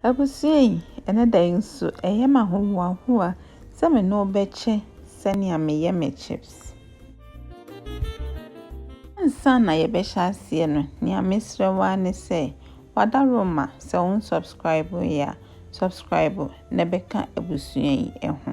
Abusua yi, ɛnnɛ da yi nso, ɛyɛ me ahohoahoa sɛ me ne wo bɛkyɛ sɛnea meyɛ me chips. Ansa na yɛbɛhyɛ aseɛ no, nea mesrɛ wo ara ne sɛ, wada Roma, sɛ wo nsubscribe yɛ a, subscribe na bɛka abusua yi ho.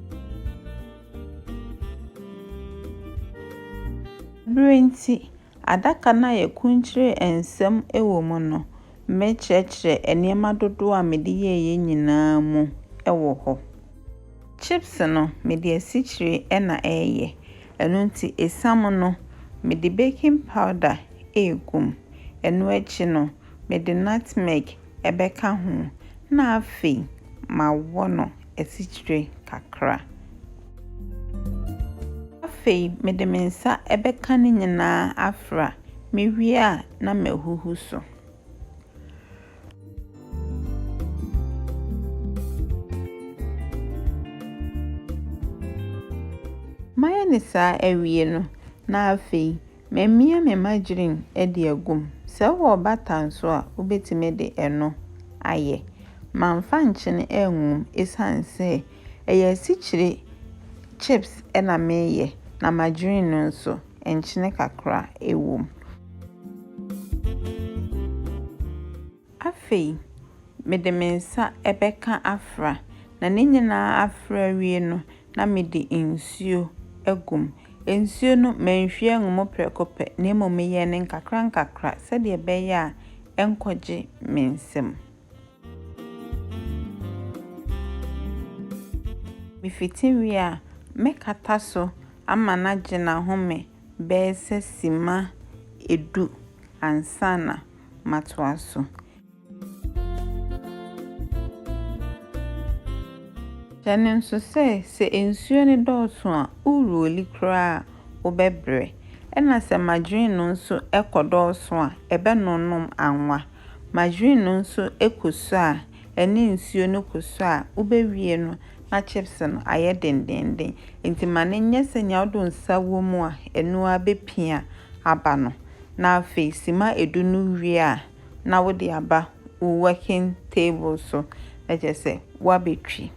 Bere nti, adaka no a yɛakurukyire nsɛm wɔ mu no, mekyerɛkyerɛ nneɛma dodow a mede yɛeɛ nyinaa mu wɔ hɔ. Chips no, mede asikyire na ɛreyɛ, ɛno nti esiam no, mede baking powder regu mu. Ɛno akyi no. mede nutmeg bɛka ho na afei mawɔ no asikyire kakra. Afei mede me nsa bɛka ne nyinaa afra, mewie a na mahuhu so. Mayɛ no saa awie no, na afei Mamia me mma green de agu mu. Sɛ wowɔ butter nso a, wobɛtumi de ɛno ayɛ. Mamfa nkyene angu mu ɛsiane sɛ ɛyɛ asikyire chips na mereyɛ na margarine no nso, nkyene kakra wɔ mu. Afei, mede me nsa bɛka afra, na ne nyinaa afra awie no, na mede nsuo agu mu. Nsuo no, manhwie angu mu prɛko pɛ, na mmom meyɛɛ no nkakrankakra sɛdeɛ ɛbɛyɛ a ɛrenkɔgye me nsam. Mefiti wie a, mɛkata so ama no agye n'ahome bɛyɛ sɛ simma du ansa na matoa so. Hyɛ no nso sɛ, sɛ nsuo no dɔɔso a, woruoli koraa a, wobɛbrɛ. Ɛna sɛ margarine no nso kɔdɔɔso a, ɛbɛnonom anwa. Margarine no nso kɔsua a, ɛne nsuo no kɔsua a, wobɛwie no na chips no ayɛ dendeenden. Nti ma no nyɛ sɛ nea wode wo nsa wɔ mu a, ɛno ara bɛpia aba no. na afei sima edu no wie a na wode aba wo working table so na kyerɛ sɛ woabɛtwi.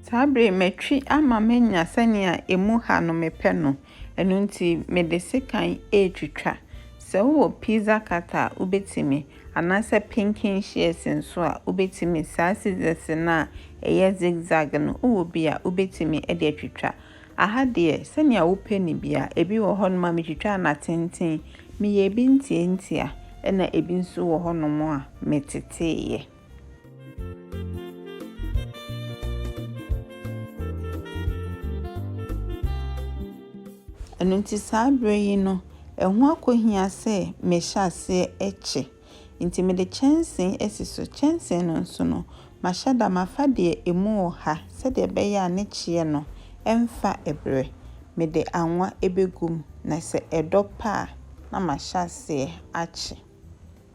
Saa bere yi matwi ama manya sɛnea ɛmu ha no mepɛ no. Ɛno nti mede sekan retwitwa. Sɛ wowɔ pizza cutter a wobɛtumi, anaasɛ pinking shears nso a wobɛtumi, saa scissors no a ɛyɛ zig zag no wowɔ bi a wobɛtumi de atwitwa. Aha deɛ sɛnea wopɛ no biara, ebi wɔ hɔnom a metwitwaa no atenten, meyɛɛ bi ntiantia, ɛna ebi nso wɔ hɔnom a meteteeɛ. Ɛno nti saa berɛ yi no, ɛho akɔhia sɛ mehyɛ aseɛ kye. Nti mede kyɛnsee asi so. Kyɛnsee no nso no, mahyɛ da mafa deɛ ɛmu wɔ ha sɛdeɛ ɛbɛyɛ a ne kyeɛ no mfa berɛ. Mede anwa bɛgu mu na sɛ ɛdɔ pɛ a na mahyɛ aseɛ akye.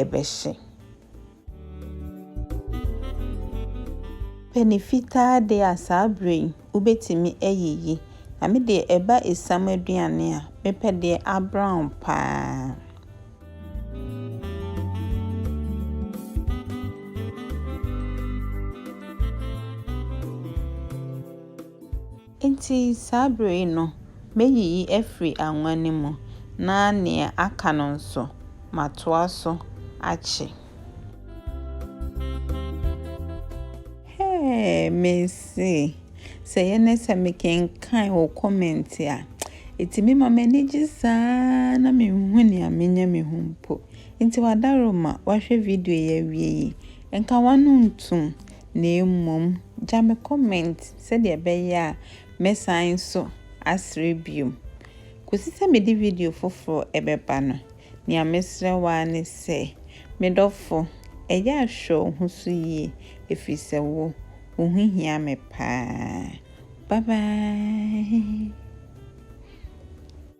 ɛbɛhye. Pɛni fitaa deɛ a saa berɛ yi wobɛtumi ayiyi. Na me deɛ ɛba esiam aduane a, mepɛ deɛ abrown pa ara. Enti saa bere yi no mɛyiyi afiri anwa no mu, na nea aka no nso, matoa so akye. Hɛɛ, mese, sɛ ɛyɛ nnɛ sɛ mekenkan wo comment a, ɛtumi ma m'ani gye saa ara na menhu nea menya me ho mpo. Enti w'adaworoma, woahwɛ video yi awie yi, nka w'ano ntom. na mmom gya me comment sɛdeɛ ɛbɛyɛ a mɛsan nso asrɛ bio. Kɔsi sɛ mede video foforɔ ɛbɛba no, nea mesrɛ wo ara ne sɛ, me dɔfo, ɛyɛ a hwɛ wo ho so yie ɛfiri sɛ wo, wo ho hia me paa. Bye bye.